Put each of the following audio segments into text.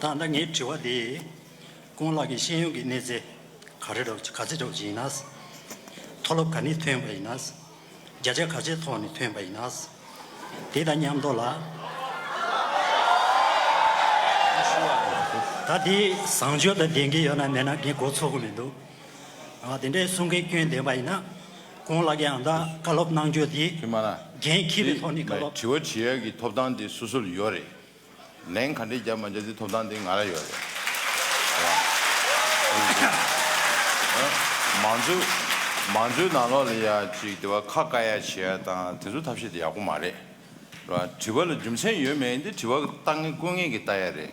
ད་ལྟ་ངའི་དྲི་བ་འདི། ཀུན་ལགས་ཀྱི་ཤེས་ཡོན་གྱི་གནས་ཚད་ག་རེ་རོགས་ག་ཚད་རོགས་ཀྱི་ཡིན་ན། མཐོ་སློབ་ག་ནས་ཐོན་པ་ཡིན་ན། བརྒྱ་ཆ་ག་ཚད་ཐོག་ནས་ཐོན་པ་ཡིན་ན། དེ་དང་མཉམ་དུ་ལ། ད་དེའི་བཟང་སྤྱོད་དང་ལྡན་གྱི་ཡོད་ན་མེད་ན་ངས་འགོ་ཚུགས་གི་མི་འདུག། དེ་འདྲའི་གསུང་མཁན་སྐྱོན་ལྡན་པ་ཡིན་ན། གོང་ལགས་ཀྱིས་ཨང་རྟགས་བཀའ་སློབ་གནང་རྒྱུ་དེ། དྲི་མ། འགན་འཁྱེར་བའི་ཐོག་ནས་བཀའ་སློབ། དྲི་བ་དྲི་ཡ་གི་ཐོབ་ཐང་དེ་སོ་སོར་ཡོད་རེད། ལན་ག་འདྲས་རྒྱབ་མ་རྒྱབ་དེ་ཐོབ་ཐང་དེ་ང་ལ་ཡོད་རེད། མང་གཙོའི་མང་གཙོའི་ནང་ལོགས་ལ་ཡ་ཅིག་དེ་བ་ཁ་བཀའ་ཡ་བྱེད་ཡ་དང་དེ་ཚོ་ཐབས་ཤེས་དེ་ཡག་པོ་མ་རེད། དྲི་བ་ལ་རྒྱུ་མཚན་ཡོད་མེད་དེ་དྲི་བ་བཏང་ངེས་བཀོད་ངེས་ཀྱི་བལྟ་ཡ་རེད།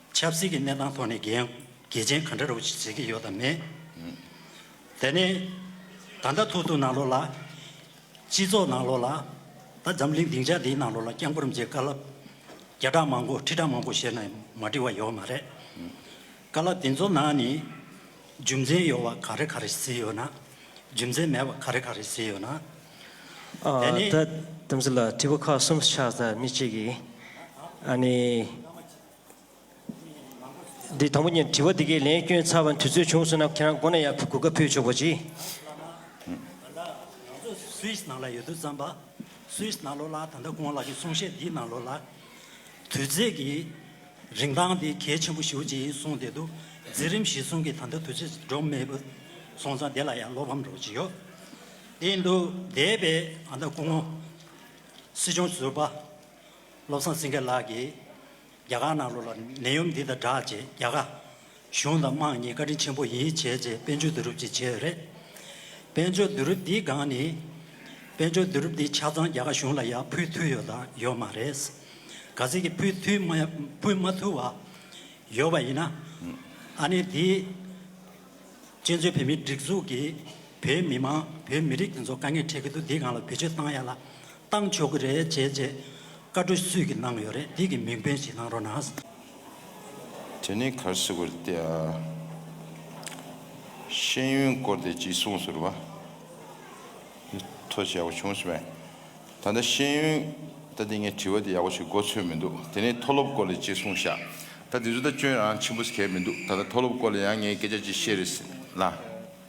ཆབ་སྲིད་ཀྱི་གནས་སྟངས་ཐོག་ནས་འགལ་རྐྱེན་ག་འདྲ་རུ་བྱེད་ཀྱི་ཡོད་དམ་མེད། དེ་ནི་ད་ལྟ་ཐུག་ཐུག་ནང་ལོགས་ལ། སྤྱི་ཚོགས་ནང་ལོགས་ལ། ད་འཛམ་གླིང་སྡིངས་ཆ་འདིའི་ནང་ལོགས་ལ་རྐྱང་འཁོར་མཇལ་དཀའ། ལབ་བརྒྱ་ཕྲག་མང་པོ་ཁྲི་ཕྲག་མང་པོ་བཤད་ནས་མ་འབྲི་བ་ཡོད་མ་རེད། དཀའ་ལབ་དེ་ཚོ་ནང་ནས་རྒྱུ་མཚན་ཡོད་བ་ག་རེ་ག་རེ་ཟིན་ཡོད་ན། རྒྱུ་མཚན་མེད་བ་ག་རེ་ག་རེ་ཟིན་ཡོད་ན། དེ་ནི། ད་དེ་ཚོ་ལ་དྲི་བ་ཁག་གསུམ་ཆགས་ཚར་མི་གཅིག་གིས། ཨ་ནི། འདི་དང་པོ་གཉིས་དྲི་བ་འདི་གའི་ལན་བསྐྱོན་ཚར་བ་དུས་ཚོད་བྱུང་སོང་ན་ཁྱེད་རང་མགོ་ན་ཡར་ཕུད་གོ་སྐབས་ཕུལ་ཆོག་པོ་གྱིས། ད་ལྟ་ང་ཚོ Swiss ནང་ལ་ཡོད་དུས་བརྩམས་པ Swiss ནང་ལོགས་ལ་ད་ལྟ་ཁོང་ལགས་ཀྱི་གསུང་བཤད་འདིའི་ནང་ལོགས་ལ། དུས་ཚོད་ཀྱི་རིན་ཐང་འདི་གལ་ཆེན་པོ་ཞིག་ཅིག་ཡིན་གསུངས་བསྡད་འདུག་འཛིན་རིམ་བཞི་གསུམ་གྱི་ད་ལྟ་དུས་ཚོད་འགྲོ་མེད་པོ་སོང་ཙང་དེ་ལ་ཡང་བློ་ཕམ་རོགས་ཅིག་ཡོད་བསྡད་འདུག་འདས་པའི་ད་ལྟ་སྐུ་ངོ་སྲིད་སྐྱོང་ཟུར་པ་བློ་བཟང་སེང་གེ་ལགས་ཀྱིས་རྒྱ་གར་ནང་ལོགས་ལ་ནད་ཡོམ་འདི་དང་སྦྲགས་ཅེས་རྒྱ་གར་གཞུང་དང་དམངས་གཉིས་བཀའ་དྲིན་ཆེན་པོ་ཡིན་བྱས་རྗེས་དཔལ་འབྱོར་བསྡུ་རུབ་ཅིག་བྱས་ཡོད་རེད། དཔལ་འབྱོར་བསྡུ་རུབ་འདིའི་སྒང་ནི། དཔལ་འབྱོར་བསྡུ་རུབ་འདིའི་ཆ་ཚང་རྒྱ་གར་གཞུང་ལ་ཡང་ཕུལ་ཐུལ་ཡོད་དང་ཡོད་མ་རེད། ག་ཚད་ཀྱི་ཕུལ་ཐུལ་མ་ཕུལ་མ་ཐུལ་བ་ཡོད་པ་ཡིན་ན། ཨ་ནེ་འདིས། གཅེན་གཅུང་བོད་མིའི་སྒྲིག་འཛུགས་ཀྱིས་བོད་མི་མང་བོད་མི་རིགས་འདི་ཚོ་དཀའ་ངལ་འཕྲད་ཀྱི་འདུག་འདིའི་སྒང་ལ་བེད་སྤྱོད་བཏང་ཡ་ལ། བཏང་ཆོག་གི་རེད་བྱས་རྗེས་བཀའ་འཁྲོལ་སུས་ཀྱི་གནང་ཡོད་རེད་དེ་གི་མིང་དཔོན་ཞིག་གནང་རོགས་གནང། དེ་ནས་གར་སི་གོ་རྟེ་ཨ། ཤེས་ཡོན་སྐོར་དེ་གཅིག་གསུངས་ཟུར་བ། འདི་ཐོ་ཞེ་ཡག་པོ་བྱུང་སི་བས། ད་ལྟ་ཤེས་ཡོན་ད་དེ་ངས་དྲི་བ་དེ་ཡག་པོ་ཞིག་མགོ་ཚོས་མི་འདུག་དེ་ནས་མཐོ་སློབ་སྐོར་ལས་གཅིག་གསུངས་ཤག་ད་དེ་ཚོ་ད་སྐྱོན་རང་ཆེན་པོ་སི་གས་མི་འདུག་ད་ལྟ་མཐོ་སློབ་སྐོར་ལས་ཡང་ངས་སྐད་ཆ་གཅིག་བཤད་རེད་སི་ལ།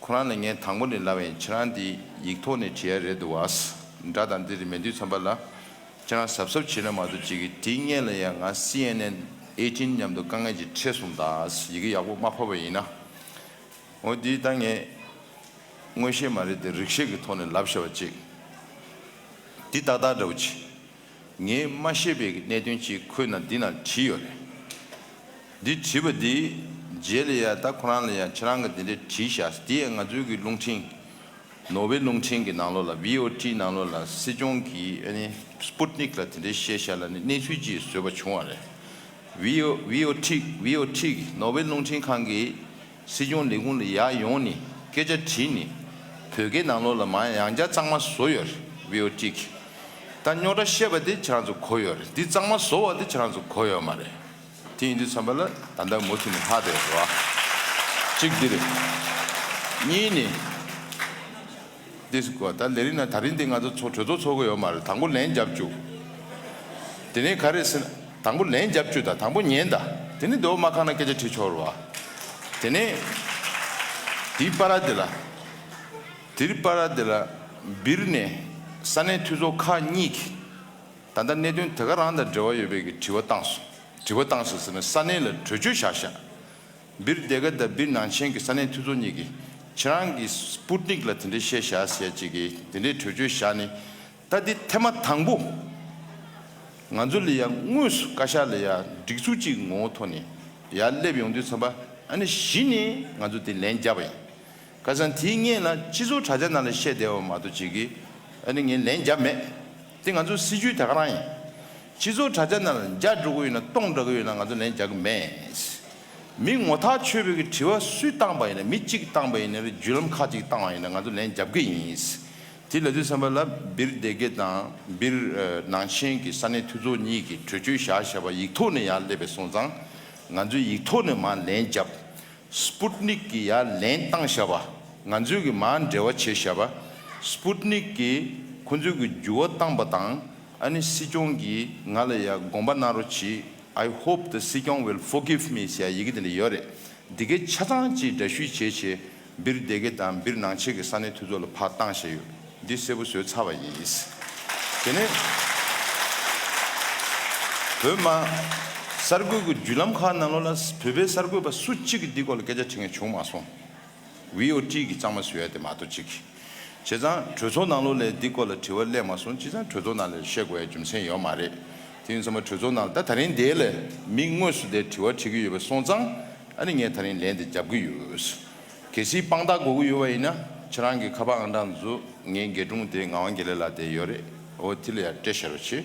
ཁོ་རང་ལ་ངས་དང་པོ་ནས་ལབ་བས་ཁྱེད་རང་འདི་ཡིག་ཐོག་ནས་བྲིས་ཡ་རེད་འདུག་བ། འདྲ་དང་འདི་རེ་མེད་དུས་ཚོམ་པ་ལ། ཁྱེད་རང་གཟབ་གཟབ་བྱེད་ན་མ་ཐུབ་ཅིག་གི་དེ་སྔས་ལ་ཡང་ང cnn Eighteen མཉམ་དུ་དཀའ་ངལ་གྱི་འཕྲད་སོང་དང་ཡི་གེ་ཡག་པོ་མ་ཕབ་བ་ཡིན་ན། འོ་འདི་ད་ངས་དངོས་བཤད་མ་རེད་དེ་རིག་ཤེས་ཀྱི་ཐོག་ནས་ལབ་ཤ་བ་ཅིག་འདི་ཏག་ཏག་འདྲ་བོ་ཅི། ངས་མ་ཤེས་པའི་གནད་དོན་གཅིག་ཁོས་ན་འདི་ན་བྲིས་ཡོད་རེད། འདི་བྲིས་པ་འདིས་རྗེས་ལ་ཡང་ད་ཁོ་རང་ལ་ཡང་ཁྱེད་རང་གིས་འདི་འདྲས་བྲིས་བཞག་དེ་ཡང་ང་ཚོའི་གི་རླུང་འཕྲིན། ནོར་ཝེ་རླུང་འཕྲིན་གི་ནང་ལོགས་ལ VOT ནང་ལོགས་ལ་སྲིད་སྐྱོང་གིས་ཨ་ནི Sputnik ལ་དེ་འདྲས་བཤད་བཞག་ལ་ནི་གནས་ཚུལ་ཅིག་བཟོས་པ་བྱུང་བ་རེད། VOT གི་ནོར་ཝེ་རླུང་འཕྲིན་ཁང་གིས་སྲིད་སྐྱོང་ལས་ཁུངས་ལ་ཡག་ཡོང་ནི་སྐད་ཆ་དྲིས་ནི་བོད་སྐད་ནང་ལོགས་ལ་མ་ཡང་བྱ་གཙང་མ་བཟོ་ཡོད་རེད་བྷི་ཨོ་ཏྲིག་ད་རྙོག་དྲ་བཤད་པ་དེ་ཁྱེད་རང་ཚོ་གོ་ཡོད་རེད་འདི་གཙང་མ་བཟོ་བ་དེ་ཁྱེད་རང་ཚོ་གོ་ཡོད་མ་རེད་དེ་ཡིན་དུས་ཚང་པ་ལ་ད་ལྟ་མུ་མཐུད་ནས་ལྷག་བསྡད་ཡོད་རེད་བ་གཅིག་འདི་རེད་གཉིས་ནི། འདི་ཟེར་དགོས། ད་ལས་རིགས་ན་ད་རིང་འདི་ང་ཚོ་གྲོས་ཚོགས་འཚོགས་གི་ཡོད་མ་རེད་དང་པོ་ལན་རྒྱབ་བཅུག་དེ་ནས་ག་རེ་ཟེར་ན་དང་པོ་ལན་རྒྱབ་བཅུག་དང་དང་པོ་ཉན་དང་དེ་ནས་འདོད་མ་ཁ་ན་སྐད་ཆ་དྲི་ཆོག་རུ་བ་དེ་ནས་དེའི་པ་ར་དེ་ལ་དེར་པ་ར་དེ་ལ་འབིར་ནས་ས་གནས་འཐུས་ཚོགས་ཁག་གཉིས་ཀྱི་ད་ལྟ་གནད་དོན་དེ་ག་རང་དང་འབྲེལ་བ་ཡོད་པའི་གི་དྲི་བ་བཏང་སོང་དྲི་བ་བཏང་ཟེར་ཟེར་ན་ས་གནས་ལ་གྲོས་ཆོད་བཞག་བཞག་སྦིར་སྡེ་དགེ་དང་སྦིར་ནང་ཆེན་གྱི་ས་གནས་འཐུས་ཚོགས་གཉིས་ཀྱིས་ཁྱེད་རང་གིས Sputnik ལ་དེ་འདྲའི་བཤད་བཞག་ཟེར་ཅེས་ཀྱི་དེ་འདྲའི་གྲོས་ཆོད་བཞག་ནས་ད་འདི་ཐེངས་མ་དང་པོ། ང་ཚོ་ལ་ཡང་དངོས་སུ་བཀའ་ཤག་ལ་ཡང་སྒྲིག་འཛུགས་གཅིག་ངོ་བོ་ཐོག་ནས་ཡང་སླེབས་ཡོང་དུས་འཚམས་པ་ཨ་ནི་གཞི་ནས་ང་ཚོ་དེ་ལན་རྒྱབ་པ་ཡིན། ཁ་སང་དེའི་སྔས་ལ་སྤྱི་ཚོགས་དྲྭ་རྒྱ་ནང་ལ་བཤད་བསྡད་བ་མ་གཏོགས་ཅིག་གིས་ཨ་ནི་ངས་ལན་རྒྱབ་མེད། དེ་ང་ཚོ་སྲིད་བྱུས་དེ་ག་རང་ཡིན། སྤྱི་ཟུར་དྲ་རྒྱ་ནང་ལ་འཇའ་འགྲོ་གི་ཡོད་ན་སྟོང་འདྲ་གི་ཡོད་ན་ང་ཚོ་ལན་རྒྱག་གི་མེད། མི་ངོ་ཐག་ཆོད་པོ་གི་དྲི་བ་སུས་བཏང་པ་ཡིན་ན་མི་གཅིག་གི་བཏང་པ་ཡིན་ནི་རེད་བརྒྱུད་ལམ་ཁག་ཅིག་གི་བཏང་བ་ཡིན་ན་ང་ཚོ་ལན་རྒྱབ་གི་ཡིན། དེ་ལ་དུས་སམ་པ་ལ་སྦིར་སྡེ་དགེ་དང་སྦིར་ནང་ཆེན་གི་ས་གནས་འཐུས་ཚོགས་གཉིས་ཀྱི་གྲོས་ཆོད་བཞག་བཞག་པ་ཡིག་ཐོག་ནས་ཡང་སླེབས་པའི་སོང་ཙང་ང་ཚོས་ཡིག་ཐོག་ནས་མ་ལན་རྒྱབ། Sputnik གི་ཡང་ལན་བཏང་བཞག་པ་ང་ཚོས་གི་མ་འབྲེལ་བ་བྱེད་བཞག་པ Sputnik གི་ཁོང་ཚོས་གི་འགྱུར་བ་བཏང་པ་དང་ཨ་ནི་སྲིད་སྐྱོང་གིས་ང་ལ་ཡ་དགོངས་པ་གནང་རོགས་གྱིས I hope the སྲིད་སྐྱོང will forgive me ཞེས་ཡི་གེ་དེ་ལ་ཡོད་རེད། འདི་གའི་ཆ་ཚང་གཅིག་འདྲ་བཤུས་བྱས་ཆེ་སྦིར་སྡེ་དགེ་དང་སྦིར་ནང་ཆེས་ཀྱི་ས་གནས་འཐུས་ཚོགས་ལ་ཕར་བཏང་ཞེས་ཡོད་འདི་གསལ་པོ་བཟོས་ཚར་བ་ཡིན་དེ་ནས་བོད་དམག་གསར་འགོད་ཀྱི་བརྒྱུད་ལམ་ཁག་ནང་ལོ་ལ་བོད་པའི་གསར་འགོད་པ་སུ་གཅིག་གིས་འདི་སྐོར་ལ་སྐད་ཆ་དྲིས་ངས་བྱུང་མ་སོང། བྷི་ཨོ་ཏི་གི་གཙང་མ་ཟེར་བ་དེ་མ་གཏོགས་ཅི། བྱས་ཙང་གྲོས་ཚོགས་ནང་ལོ་ལེགས་འདི་སྐོར་ལ་དྲི་བ་གླེང་མ་སོང་ཅི་ཙང་གྲོས་ཚོགས་ནང་ལེར་བཤད་དགོས་ཡ་རྒྱུ་མཚན་ཡོད་མ་རེད་དེ་ཡིན་ཚང་མ་གྲོས་ཚོགས་ནང་ལ་ད་ད་རིང་འདའི་ལ་མིག་དངོས་སུ་འདའི་དྲི་བ་དྲི་གི་ཡོད་པ་སོང་ཙང་ཨ་ནི་ངས་ད་རིང་ལན་དེ་རྒྱབ་གི་ཡོད། གལ་སྲིད་དཔང་རྟགས་དགོས་གི་ཡོད་བ་ཡིན་ན་ཁྱེད་རང་གི་ཁ་པར་ཨང་གྲངས་འཛུགས་ངའི་འགས་སྒྲུང་དེ་ངག་དབང་དགེ་ལེགས་ལགས་དེ་ཡོད་རེད་བྷི་ཨོ་ཏི་ལ་ཡར་སྤྲད་ཤར་བ་བྱེད།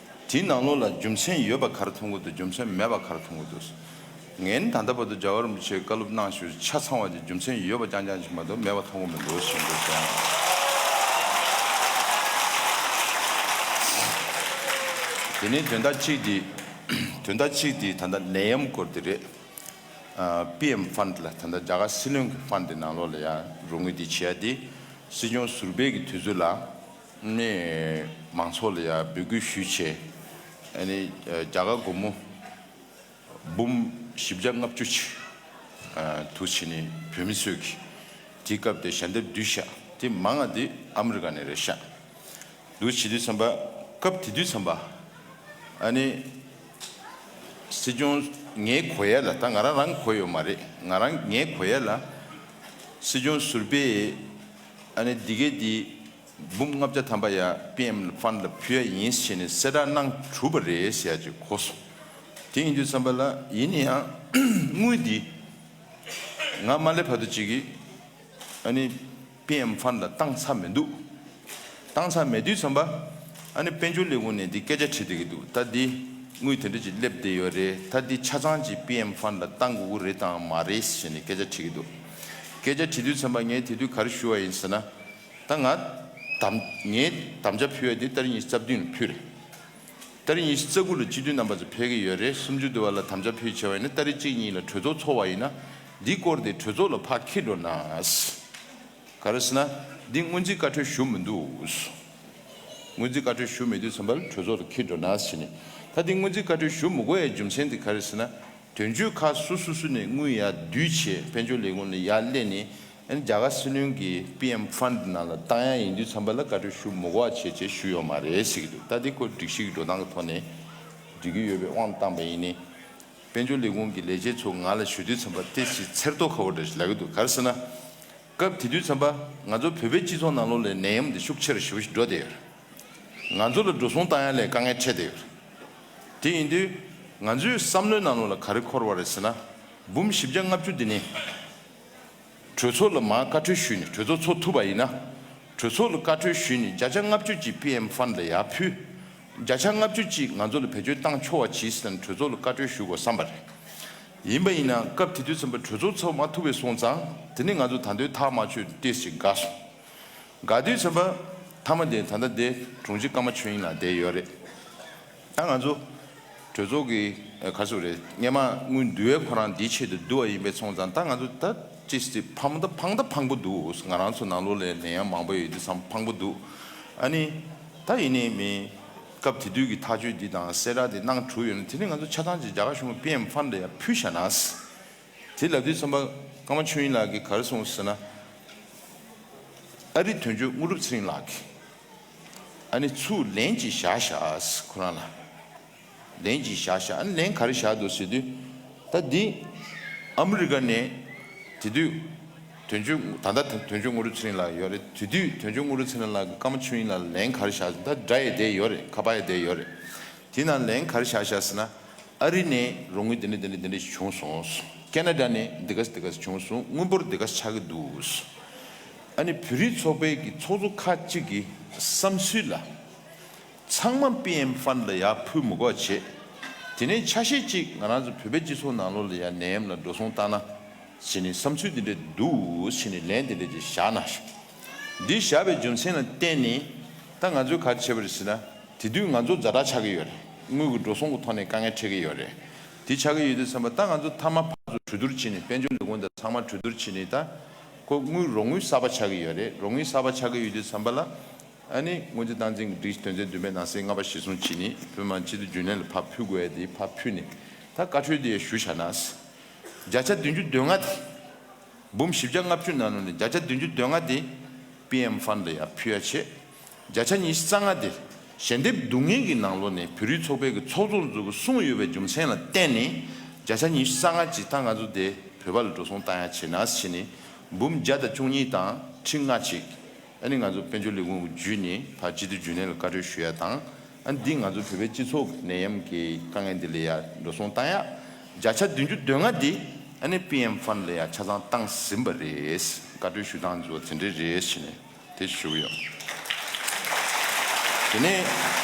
དེའི་ནང་ལོགས་ལ་རྒྱུ་མཚན་ཡོད་པ་གར་ཐོང་གི་འདུག་རྒྱུ་མཚན་མེད་པ་གར་ཐོང་གི་འདུག་ངས་ད་ལྟ་བར་དུ་རྒྱ་གར་རིན་པོ་ཆེའི་བཀའ་སློབ་གནང་ཞོར་ཆ་ཚང་བ་དེ་རྒྱུ་མཚན་ཡོད་པ་རྐྱང་རྐྱང་ཞིག་མ་གཏོགས་མེད་པ་ཐོང་གི་མི་འདུག་ཞེས་འདོད་སོང། དེ་ནས་དོན་དག་གཅིག་དེ་དོན་དག་གཅིག་དེ་ད་ལྟ་ནད་ཡམས་སྐོར་དེ་རེད། PM Fund ལ་ད་ལྟ་རྒྱ་གར་སྲིད་བློན་གྱི Fund དེ་ནང་ལོགས་ལ་ཡང་རོགས་དངུལ་དེ་བྱེད་ཡ་དེ་སྲིད་སྐྱོང་ཟུར་བེད་ཀྱི་དུས་ཚོད་ལ། ནས་མང་ཚོགས་ལ་ཡང་འབོད་སྐུལ་ཞུས་ཆེད། རྒྱ་གར་སྒོར་མོ་འབུམ་བཞི་བརྒྱ་ལྔ་བཅུ་ཆེད་དུ་བྱས་ནས་བོད་མི་ཚོས་ཀྱིས་དེའི་སྐབས་དེར་ཞལ་འདེབས་བསྡུས་ཤག་དེ་མང་ང་དེ་ཨ་མི་རི་ཀ་ནས་རེད་ཤག་འདུག་བྱེད་དུས་ཚན་པ་སྐབས་དེ་དུས་ཚན་པ་ནི་སྲིད་སྐྱོང་ངའི་གོ་ཡས་ལ་ད་ང་རང་རང་གི་གོ་ཡོད་མ་རེད་ང་རང་ངའི་གོ་ཡས་ལ་སྲིད་སྐྱོང་ཟུར་པས། ཨ་ནི་འདི་གའི་འདི། འབུམ་ལྔ་བརྒྱ་ཐམ་པ་ཡ་པིའམ་ལ་ཕན་ལ་ཕུལ་ཡ་ཡིན་ཞེས་ནི་གསལ་བསྒྲགས་གནང་གྲུབ་པ་རེད་ཞེས་ཡ་ཅིག་གོ་སོང། དེ་ཡིན་དུས་བསམ་པ་ལ་ཡིན་ནི་ཡང་དངུལ་འདི། ང་མ་སླེབས་བར་དུ་ཅིག་གིས། ཨ་ནི། པིའམ་ཕན་ལ་བཏང་ཚར་མི་འདུག། བཏང་ཚར་མེད་དུས་བསམ་པ། ཨ་ནི་དཔལ་འབྱོར་ལས་ཁུངས་ནས་འདི་སྐད་ཆ་དྲིས་བསྡད་ཀྱི་འདུག་ད་འདི། དངུལ་དེ་འདྲ་ཅིག་སླེབས་བསྡད་ཡོད་རེད་ད་འདི་ཆ་ཚང་ཅིག་པིའམ་ཕན་ལ་བཏང་དགོས་ཀྱི་རེད་དང་མ་རེད་ཞེས་ནི་སྐད་ཆ་དྲིས་ཀྱི་འདུག། སྐད་ཆ་དྲི་དུས་ཚན་པ་ངས་དེ་དུས་ག་རེ་ཞུ་བ་ཡིན་ཟེར་ན། ད་ང། ངས་དམ་བཅའ་ཕུལ་བ་དེ་ལྟར་ཉི་ཤུ་རྩ་བདུན་ལ་ཕུལ་རེད། ལྟར་ཉི་ཤུ་རྩ་དགུ་ལ་སྤྱི་འཐུས་རྣམ་པ་ཚོ་ཕེབས་ཀྱི་ཡོད་རེད་སུམ་ཅུ་བདུན་བར་ལ་དམ་བཅའ་ཕུལ་བྱས་བ་ཡིན་ན་ལྟར་རེ་གཅིག་གཉིས་ལ་གྲོས་ཚོགས་འཚོགས་བ་ཡིན་ན། འདི་སྐོར་དེ་གྲོས་ཚོགས་ལ་ཕ་ཁེ་འགྲོ་ནའས། ག་རེ་ཟེར་ན། འདི་སྔོན་རྩིས་བཀའ་འཁྲོལ་ཞུ་མི་འདུག། སྔོན་རྩིས་བཀའ་འཁྲོལ་ཞུ་མེད་དུས་ཚན་པ་ལ་གྲོས་ཚོགས་ལ་ཁེ་འགྲོ་ནའས་བྱས་ནས། ད་དེ་སྔོན་རྩིས་བཀའ་འཁྲོལ་ཞུ་མི་དགོས་ཡའི་རྒྱུ་མཚན་དེ་ག་རེ་ཟེར་ན། དོན་གཅོད་ཁག་སོ་སོ་སུ་ནས་དངུལ་ཡར་བསྡུས་བྱས་དཔལ་འབྱོར་ལས་ཁུངས་ལ་ཡར་གླེང་ནས་རྒྱ་གར་སྲིད་བློན་གྱི PM Fund ནང་ལ་བཏང་ཡག་ཡིན་དུས་འཚམས་པ་ལ་བཀའ་འཁྲོལ་ཞུ་མུག་བ་བྱས་བྱས་ཞུ་ཡོག་མ་རེད་ཟེར་གྱི་འདུག་ལྟ་དེ་ཁོ་སྒྲིག་གཞིག་འགྲོ་སྟངས་ཀྱི་ཐོག་ནས་སྒྲིག་གི་ཡོད་པའི་དབང་དུ་བཏང་པ་ཡིན་ནི། དཔལ་འབྱོར་ལས་ཁུངས་ཀྱི་ལས་བྱེད་ཚོ་ང་ལ་ཞུ་དུས་འཚམས་པ་ལྟས་ཚེ་ཚེར་རྡོ་ཁ་བོ་འདྲ་ཞིག་ལབ་ཀྱི་འདུག་གར་སེ་ན། སྐབས་དེ་དུས་འཚམས་པ་ང་ཚོ་བོད་པའི་སྤྱི་ཚོགས་ནང་ལོག་ལས་ནད་ཡམས་འདི་ཤུགས་ཆེར་ཞི་བོ་ཞིག་འགྲོ་བསྡད་ཡོད་རེད། ང་ཚོ་ལ་འགྲོ་སོང་བཏང་ཡ་ལས་དཀའ་ངལ་འཕྲད་བསྡད་ཡོད་རེད། དེ་ཡིན་དུས་ང་ཚོའི་བསམ་བློའི་ནང་ལུགས་ལ་ག་རེ་འཁོར་བ་རེད་ཟེར་ན། འབུམ་བཞི་བརྒྱ་ལྔ་བཅུ་འདི་ནི། གྲོས་ཚོགས་ལ་མ་བཀའ་ཁྲོལ་ཞུས་ནས་གྲོས་ཚོགས་ཚོགས་ཐུབ་པ་ཡིན་ན། གྲོས་ཚོགས་ལ་བཀའ་ཁྲོལ་ཞུས་ནས་བརྒྱ་ཆ་ལྔ་བཅུ་གཅིག PM Fund ལ་ཡར་ཕུལ། བརྒྱ་ཆ་ལྔ་བཅུ་གཅིག་ང་ཚོ་ལ་བེད་སྤྱོད་བཏང་ཆོག་བ་གྱིས་ཟེར་ན་གྲོས་ཚོགས་ལ་བཀའ་ཁྲོལ་ཞུ་དགོས་བསམ་པ་རེད། ཡིན་པ་ཡིན་ན་སྐབས་དེ་དུས་ཚན་པ་གྲོས་ཚོགས་ཚོགས་མ་ཐུབ་བས་སོང་ཙང་དེ་ནི་ང་ཚོ་ད་འདོད་ཐག་མ་ཆོད་ཏེ་ཞེས་དགའ་སོང། དགའ་དུས་ཚོད་པ་ཐ་མ་དེ་ད་ལྟ་འདི་དྲུང་ཆེ་ཀརྨ་ཆོས་དབྱིངས་ལགས་བསྡད་ཡོད་རེད་ད་ང་ཚོ་གྲོས་ཚོགས་ཀྱི་ག་ཚོད་རེད་སྙེ་མ་དངུལ་བསྡུ་བའི་ཁོ་རང་འདིའི་ཆེད་དུ་བསྡུ་བ་ཡིན་པས་ཚོང་ཙང་ད་ང་ཚོ་ད་ཅི་སྟེ་ཕམ་ད་ཕང་ད་ཕང་པོ་འདུག་ང་རང་ཚོ་ནང་ལོག་ལས་ལས་ཡང་མང་པོ་ཡོད་དུས་སམ་ཕང་པོ་འདུག་ཨ་ནི་ད་ཡིན་ནི་མིན་སྐབས་དེ་དུས་ཀྱི་ཐག་གཅོད་འདི་དང་གསལ་བསྒྲགས་འདི་གནང་གྲུག་ཡོད་ན་དེ་ནི་ང་ཚོ་ཆ་ཚང་ཅིག་རྒྱ་གར་གཞུང་པའི་པི་ཨེམ་ཧྥན་ད་ཡང་ཕུལ་བཞག་ནའས་དེ་ལབ་དུས་ཚོན་པ་ཀརྨ་ཆོས་དབྱིངས་ལགས་ཀྱིས་གར་སོང་ཟེར་ན། ཨ་རིག་དོན་གཅོད་དངོས་གྲུབ་ཚེ་རིང་ལགས་ཀྱིས། ཨ་ནི་ཚུར་ལན་གཅིག་བཞག་བཞག་ཁོ་རང་ལ། ལན་གཅིག་བཞག་བཞག་ཨ་ནི་ལན་ག་རེ་བཞག་འདུག་ཟེར་དུས། ད་འདི། ཨ་མི་རི་ཀ་ནས། དེ་དུས། དོན་གཅོད། ད་ལྟ་དོན་གཅོད་དངོས་གྲུབ་ཚེ་རིང་ལགས་ཡོད་རེད་དེ་དུས་དོན་གཅོད་དངོས་གྲུབ་ཚེ་རིང་ལགས་ཀྱིས་ཀརྨ་ཆོས་དབྱིངས་ལགས་ལ་ལན་ག་རེ་བཞག་ཟེར་ན། ད་འདྲ་ཡས་བསྡད་ཡོད་རེད་ཁ་པར་ཡས་བསྡད་ཡོད་རེད། དེས་ན་ལན་གར་བཞག་བཞག་ཟེར་ན། ཨ་རི་ནས་རོགས་དངུལ་དེ་འདྲ་དེ་འདྲ་དེ་འདྲ་ཞིག་བྱུང་སོང། ཀ་ན་རྡ་ནས་འདི་ག་སི་དེ་ག་སི་བྱུང་སོང་དངུལ་འབོར་དེ་ག་ཆགས་ཀྱི་འདུག། ཨ་ནི་བོད་རིགས་ཚོགས་པའི་གི་ཚོགས་གཙོ་ཁག་ཅིག་གི་བསམ་ཚུལ་ལ། ཚང་མ་པི་ཨེམ་ཧྥན་ལ་ཡག་ཕུལ་མུ་འགོག་བྱེད། དེ་ནས་ཆ་ཤས་ཅིག་ང་རང་ཚོ་བོད་པའི་སྤྱི་ཚོགས་ནང་ལོག་ལ་ཡ་ནན་ལ་འགྲོ་སོང་བཏང་ན། ཞེས་ནས་བསམ་ཚུལ་དེ་འདྲ་འདུག་ཞེས་ནས་ལན་དེ་འདྲ་ཅིག་བཞག་ན། འདི་བཞག་པའི་རྒྱུ་མཚན་ལ་བརྟེན་ནས་ད་ང་ཚོས་ག་རེ་བྱེད་པ་རེད་ཟེར་ན། དེ་དུས་ང་ཚོ་འཛའ་དྲག་ཆགས་ཀྱི་ཡོད་རེད། དངུལ་གྱི་འགྲོ་སོང་གི་ཐོག་ནས་དཀའ་ངལ་འཕྲད་ཀྱི་ཡོད་རེད། དེ་ཆགས་ཀྱི་ཡོད་དུས་བསམ་པ་ད་ང་ཚོ་མཐའ་མ་ཕར་ཚུར་གྲོས་བསྡུར་བྱས་ནས་དཔལ་འབྱོར་ལས་ཁུངས་དང་ཚང་མ་གྲོས་བསྡུར་བྱས་ནས་ད་ཁོ་དངུལ་རོགས་དངུལ་གསར་པ་ཆགས་ཀྱི་ཡོད་རེད་རོགས་དངུལ་གསར་པ་ཆགས་ཀྱི་ཡོད་དུས་བསམ་པ་ལ། ཨ་ནི་སྔོན་རྩིས་སྟངས་འཛིན་གྱི་སྒྲིག་དོན་ཚན་བདུན་པའི་ནང་གསེས་ལྔ་པ་གཞིར་བཟུང་བྱས་ནས་བོད་དམངས་སྤྱི་འཐུས་རྒྱུན་ལས་ལ་ཕར་ཕུལ་དགོས་ཡ་དེ་ཕར་ཕུལ་ནས་ད་བཀའ་ཁྲོལ་དེ་ཡ་ཞུ་བྱ་ན། བརྒྱ་ཆ་བདུན་ཅུ་དོན་ལྔ་དེ། འབུམ་བཞི་བརྒྱ་ལྔ་བཅུ་ན་ནོ་ནི་བརྒྱ་ཆ་བདུན་ཅུ་དོན་ལྔ་སྟེ། པིའམ་ཧྥན་ལ་ཡང་ཕུལ་ཡ་ཆེ། བརྒྱ་ཆ་ཉི་བཞི་རྩ་ལྔ་སྟེ། ཞལ་འདེབས་སྡུག་བསྔལ་གྱི་ནང་ལོ་ནས་བོད་རིགས་ཚོགས་པའི་གི་ཚོགས་གཙོར་འཛུགས་དགོས་གསུངས་ཡོད་པའི་རྒྱུ་མཚན་ལ་བརྟེན་ནས་བརྒྱ་ཆ་ཉི་བཞི་རྩ་ལྔ་ཇི་ལྟ་ང་ཚོ་དེ་བོད་པ་ལ་འགྲོ་སོང་བཏང་ཡ་ཆེ་ནགས་སི་ཆེ་ནི་འབུམ་བརྒྱ་དང་བཅུ་གཉིས་དང་ཁྲི་ལྔ་ཅིག། ཨ་ནི་ང་ཚོ་དཔལ་འབྱོར་ལས་ཁུངས་ཀྱི་བརྒྱུད་ནས་ད་སྤྱི་འཐུས་རྒྱུན་ལས་ལ་བཀའ་འཁྲོལ་ཞུ་ཡ་དང། ཨ་ནི་འདིས་ང་ཚོ་བོད་པའི་སྤྱི་ཚོགས་ཀྱི་ནད་ཡམས་ཀྱི་དཀའ་ངལ་འདི་ལས་ཡག་འགྲོ་སོང་བཏང་ཡ། བརྒྱ་ཆ་བདུན་ཅུ་དོན་ལྔ་འདི་ཨ་ནི PM Fund ལ་ཡང་ཆ་ཚང་བཏང་ཟིན་པ་རེད། བཀའ་འཁྲོལ་ཞུ་སྟངས་འདི་ཚོ་དེ་འདྲས་རེད་ཞེས་ནས་དེ་ཞུ་གི་ཡོད། དེ་ནས།